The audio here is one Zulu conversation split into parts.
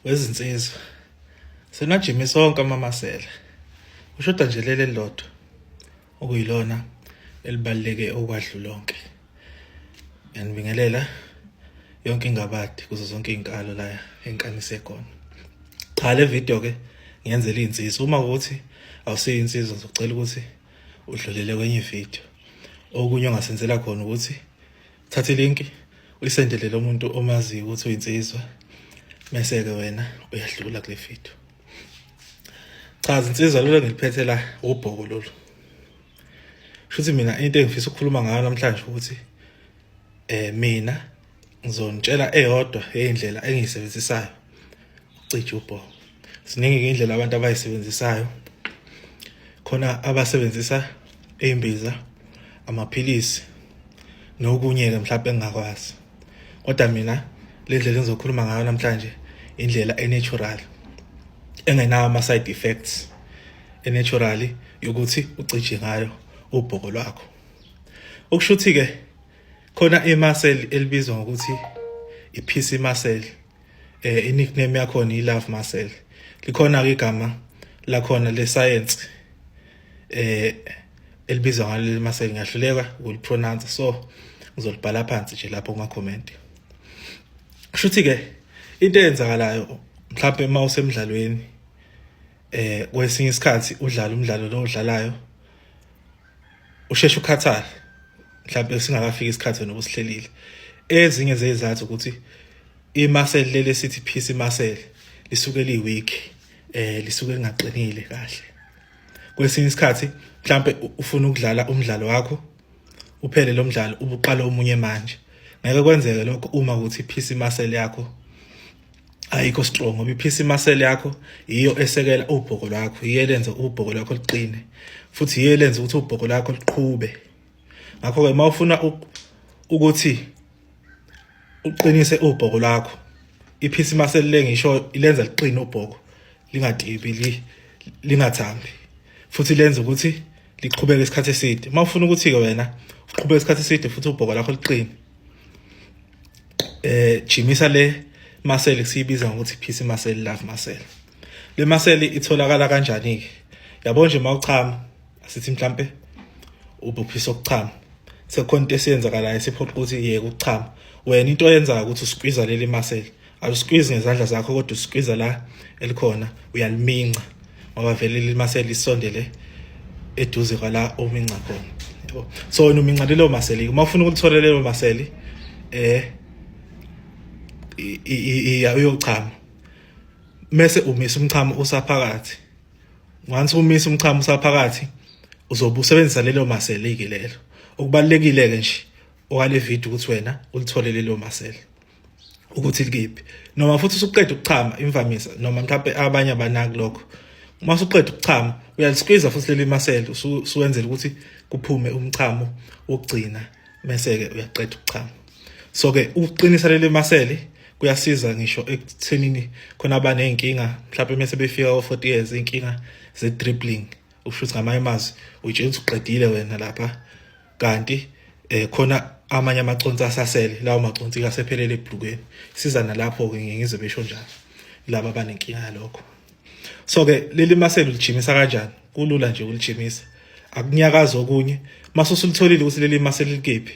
wezinsizwa senajimi sonke amamasela ushoda nje leli lodwa okuyilona elibaluleke okwahlu lonke ngiyanibingelela yonke ingabadi kuzo zonke izinkalo la enkanise khona cha le video ke ngiyenzela izinsizwa uma ukuthi awusiyo insizwa ngizocela ukuthi udlulele kwenye video okunye ongasenzela khona ukuthi thatha ilinki uyisendelele umuntu omaziyo ukuthi uyinsizwa mese-ke wena uyadlula kule video cha zinsizwa lolu engiliphethe la ubhoko lolu shuthi mina into engifisa ukukhuluma ngayo namhlanje ukuthi eh mina ngizonitshela eyodwa eyindlela engiyisebenzisayo ukucija ubhoko ziningi ke indlela abantu abayisebenzisayo khona abasebenzisa imbiza amaphilisi nokunye ke mhlawumbe engingakwazi kodwa mina le ndlela engizokhuluma ngayo namhlanje indlela enatural engenawo ama side effects enaturally yokuthi ucije ngayo ubhoko lwakho ukushuthi ke khona imuscle elibizwa ngokuthi iphisi muscle eh i-nickname yakhona i-love muscle likhona-ke igama lakhona lesayensi eh elibizwa ngalo leli muscle ngiyahluleka ukulipronounce so ngizolibhala phansi nje lapho kuma-comment shuthi-ke into eyenzakalayo mhlawumbe uma usemdlalweni eh kwesinye isikhathi udlala umdlalo lo udlalayo usheshe ukhathale mhlawumbe singakafiki isikhathi wena obusihlelile ezinye zezathu ukuthi imaseli leli sithi phisi imaseli lisuke liweak eh lisuke lingaqinile kahle kwesinye isikhathi mhlambe ufuna ukudlala umdlalo wakho uphele lo mdlalo ubuqala omunye manje ngeke kwenzeke lokho uma ukuthi iphisi imaseli yakho ayikho strong ngoba iphisi muscle yakho yiyo esekela ubhoko lwakho yiyo elenza ubhoko lwakho liqine futhi yiyo elenza ukuthi ubhoko lwakho liqhube ngakho ke mawufuna ukuthi uqinise ubhoko lwakho iphisi muscle le ngisho ilenza liqine ubhoko lingadibi lingathambi futhi lenza ukuthi liqhubeke isikhathi eside mawufuna ukuthi ke wena uqhubeke isikhathi eside futhi ubhoko lakho liqine eh jimisa le maseli siyibiza ngokuthi peace maseli love maseli le maseli itholakala kanjani ke yabo nje mawuchama asithi mhlambe ubuphisa ukuchama sekhona into esiyenzakalayo siphoqa ukuthi yeke ukuchama wena into oyenzayo ukuthi usikwiza leli maseli awusikwizi ngezandla zakho kodwa usikwiza la elikhona uyaliminca ngoba vele limase lisondele eduze kwala ominca khona yebo so wena uminca lelo maseli uma ufuna ukulithola lelo maseli eh iya uyochama mese umisa umchamo usaphakathi once umisa umchamo usaphakathi uzobe usebenzisa lelo maseli ke lelo okubalekile ke nje okale video ukuthi wena ulithole lelo maseli ukuthi likephi noma futhi usuqeda ukuchama imvamisa noma mhlawumbe abanye abanaki lokho uma usuqeda ukuchama uyalisqueeze futhi leli masela usuwenzela ukuthi kuphume umchamo wokugcina mese-ke uyaqeda ukuchama so-ke ukuqinisa leli masele kuyasiza ngisho ekuthenini khona abaney'nkinga mhlawumbe mese befika o-forty years iy'nkinga ze-dribbling ukusho ukuthi ngamanye amazwi uyitshela ukuthi uqedile wena lapha kanti eh khona amanye amaconsi asasele lawo maconsi kasephelele ebhlukweni siza nalapho ke ngize besho njalo laba banenkinga yalokho so ke leli maselo lijimisa kanjani kulula nje ulijimisa akunyakaza okunye mase usulitholile ukuthi leli maselo likephi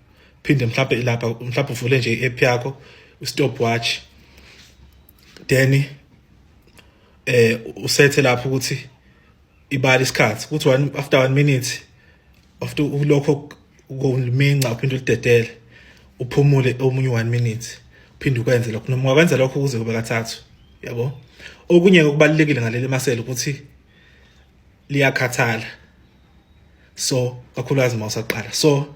phinde mhlawumbe ilapha mhlawumbe uvule nje i-app yakho stopwatch then eh usethe lapho ukuthi ibali isikhathi kuthi one after 1 minute after ulokho ukominca uphinde ulidedele uphumule omunye 1 minute uphinde ukwenze lokho noma wakwenza lokho kuze kube kathathu yabo okunye okubalekile ngaleli masela ukuthi liyakhathala so kakhulukazi uma usaqala so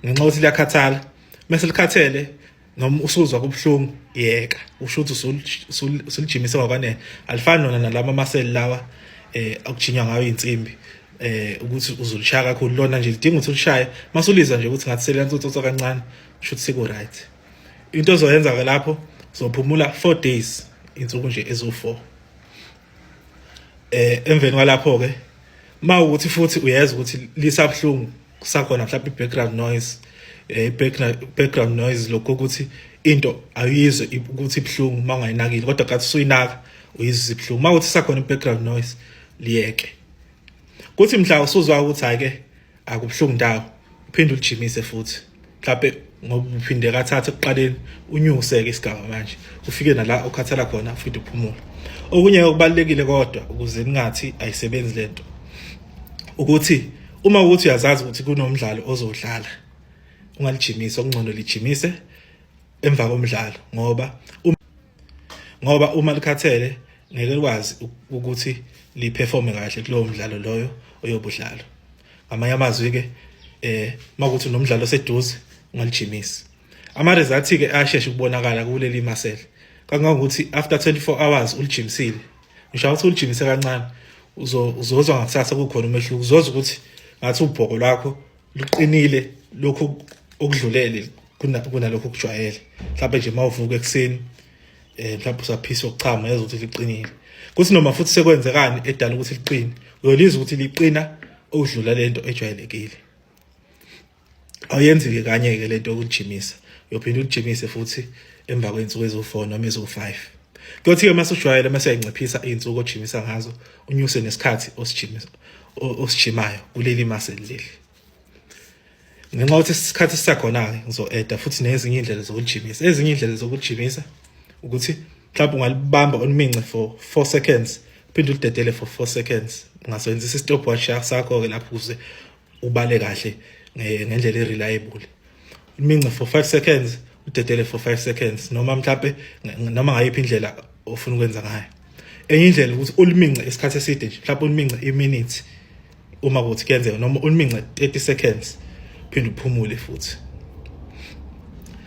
ngenxa ukuthi liyakhathala mase likhathele noma usuzwa kubuhlungu yeka usho ukuthi usulijimise ngokwanele alifani nona nalama amaseli lawa eh akujinywa ngayo insimbi eh ukuthi uzulishaya kakhulu lona nje lidinga ukuthi ulishaye masulizwa nje ukuthi ngathi selenza utsotso kancane usho ukuthi siku right into ozoyenza ke lapho uzophumula 4 days insuku nje ezo4 eh emveni kwalapho ke mawukuthi futhi uyeza ukuthi lisabhlungu kusakhona mhlawumbe i-background noise eh background noise lokho ukuthi into ayizwe ukuthi ibhlungu mangayinakile kodwa kathi suyinaka uyizwe ibhlungu mawuthi sakhona i-background noise liyeke kuthi mhla usuzwa ukuthi hayi ke akubuhlungu ndawo uphinde ulijimise futhi mhlawumbe ngoba uphinde kathatha ekuqaleni unyuse-ke isigaba manje ufike nala ukhathala khona futhi uphumule okunye okubalulekile kodwa ukuze ningathi ayisebenzi le nto ukuthi uma ukuthi uyazazi ukuthi kunomdlalo ozodlala ungalijimisa okungcono lijimise emva komdlalo ngoba ngoba uma likhathele ngeke likwazi ukuthi liperforme kahle kulowo mdlalo loyo oyobudlalo ngamanye amazwi-ke eh makuthi nomdlalo oseduze ungalijimisi ama-results-ke ayasheshe ukubonakala kuleli masele kangangokuthi after 24 hours ulijimisile ngisho ukuthi ulijimise kancane uzozwa ngakusasa kukhona umehluko uzozwa ukuthi ngathi ubhoko lwakho luqinile lokhu okudlulele kunalokho kujwayele mhlawumbe nje uma uvuka ekuseni um mhlawumbe usaphisa okuchama yazi ukuthi liqinile kuthi noma futhi sekwenzekani edala ukuthi liqine uyolizwa ukuthi liqina okudlula lento ejwayelekile awuyenzi-ke kanye-ke lento yokujimisa uyophinde ulijimisa futhi emva kwey'nsuku eziwu-four noma eziwu-five kuyothi-ke uma sujwayele uma seyayinciphisa iy'nsuku ojimisa ngazo unyuse nesikhathi osijimayo kuleli muscle leli ngenxa yokuthi isikhathi sisakhona-ke ngizo-eda futhi nezinye iy'ndlela zokujimisa ezinye iy'ndlela zokujimisa ukuthi mhlawumbe ungalibamba olumince for four seconds phinde ulidedele for four seconds ungasebenzisa i-stopwatch sakho-ke lapho ukuze ubale kahle ngendlela ereliable imince for 5 seconds udedele for 5 seconds noma mhlawumbe noma ngayiphi indlela ofuna ukwenza ngayo enye indlela ukuthi ulimince isikhathi eside nje mhlawumbe ulimince iminute uma kuthi kuyenzeka noma ulimince 30 seconds phinde uphumule futhi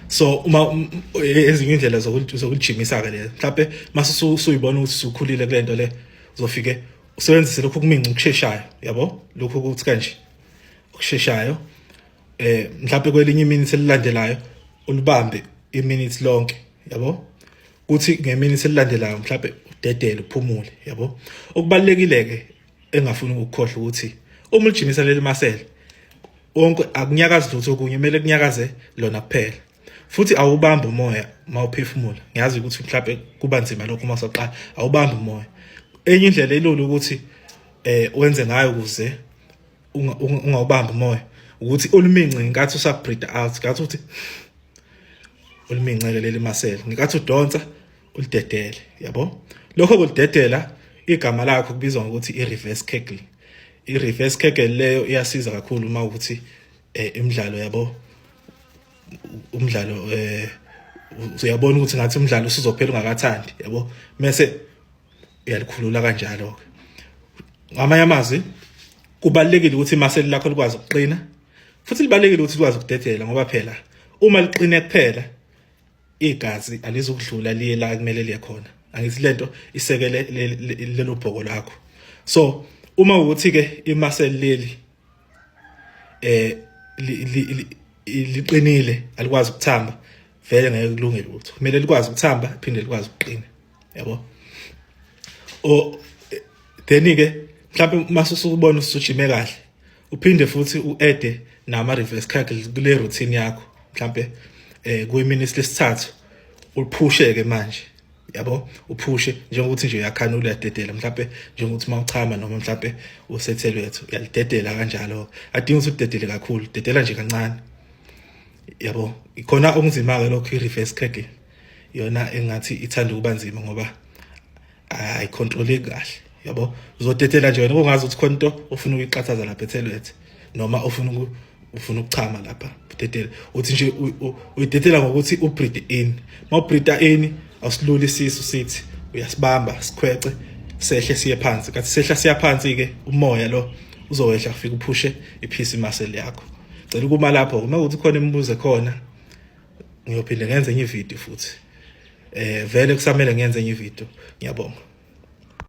so uma um, ezinye indlela zokulijimisa ke le mhlawumbe mase usuyibona ukuthi usukhulile kule nto le uzofike usebenzise lokhu kuminca ukusheshayo yabo lokhu ukuthi kanje okusheshayo eh mhlawumbe kwelinye iminute elilandelayo ulibambe iminute lonke yabo kuthi ngeminute elilandelayo mhlawumbe udedele uphumule yabo okubalekile ke engafuni ukukhohlwa ukuthi uma ulijimisa leli masele wonke akunyakazi lutho okunye kumele kunyakaze lona kuphela futhi awubambi umoya mawuphefumula ngiyazi ukuthi mhlawumbe kuba nzima lokho uma soqala awubambi umoya enye indlela elula ukuthi eh wenze ngayo ukuze ungawubambi umoya ukuthi ulumince ngenkathi usabreathe out ngathi uthi ulumincele leli masela ngenkathi udonsa ulidedele yabo lokho kulidedela igama lakho kubizwa ngokuthi i-reverse kegel i-reverse kegel leyo iyasiza kakhulu uma ukuthi eh, imidlalo yabo umdlalo eh uyabona ukuthi ngathi umdlalo usizophela ungakathandi yabo mase uyalikhulula kanjalo ke ngamanye amazwi kubalekile ukuthi imaseli lakho likwazi ukuqina futhi libalekile ukuthi likwazi ukudedela ngoba phela uma liqine kuphela igazi alizukudlula liye la kumele liye khona angithi lento isekele lelo bhoko lakho so uma ukuthi ke imaseli leli eh liqinile alikwazi ukuthamba vele ngeke kulunge lutho kumele likwazi ukuthamba phinde likwazi ukuqina yabo o then ke mhlawumbe uma usubona usujime kahle uphinde futhi uede nama reverse cycle kule routine yakho mhlawumbe eh kuyimini lesithathu uphushe ke manje yabo uphushe njengokuthi nje uyakhanula uyadedela mhlawumbe njengokuthi uma uchama noma mhlawumbe usethelwethu uyalidedela kanjalo adinga ukuthi udedele kakhulu dedela nje kancane yabo ikhona okunzima-ke lokho i-reverse cragging yona engathi ithanda ukuba nzima ngoba ayikhontroleki kahle yabo uzodedela nje wena kungazi ukuthi khona into ofuna ukuyiqathaza lapha ethelwethu noma ofuna ufuna ukuchama lapha udedela uthi nje uyidedela ngokuthi ubreed in ma ubreeda in awusilula isisu sithi uyasibamba sikhwece sehle siye phansi kathi sehla siya phansi ke umoya lo uzowehla kufika uphushe iphisi muscle yakho cela ukuma lapho uma ukuthi khona imibuzo khona ngiyophinde ngenze enye ivideo futhi eh vele kusamele ngenze enye ivideo ngiyabonga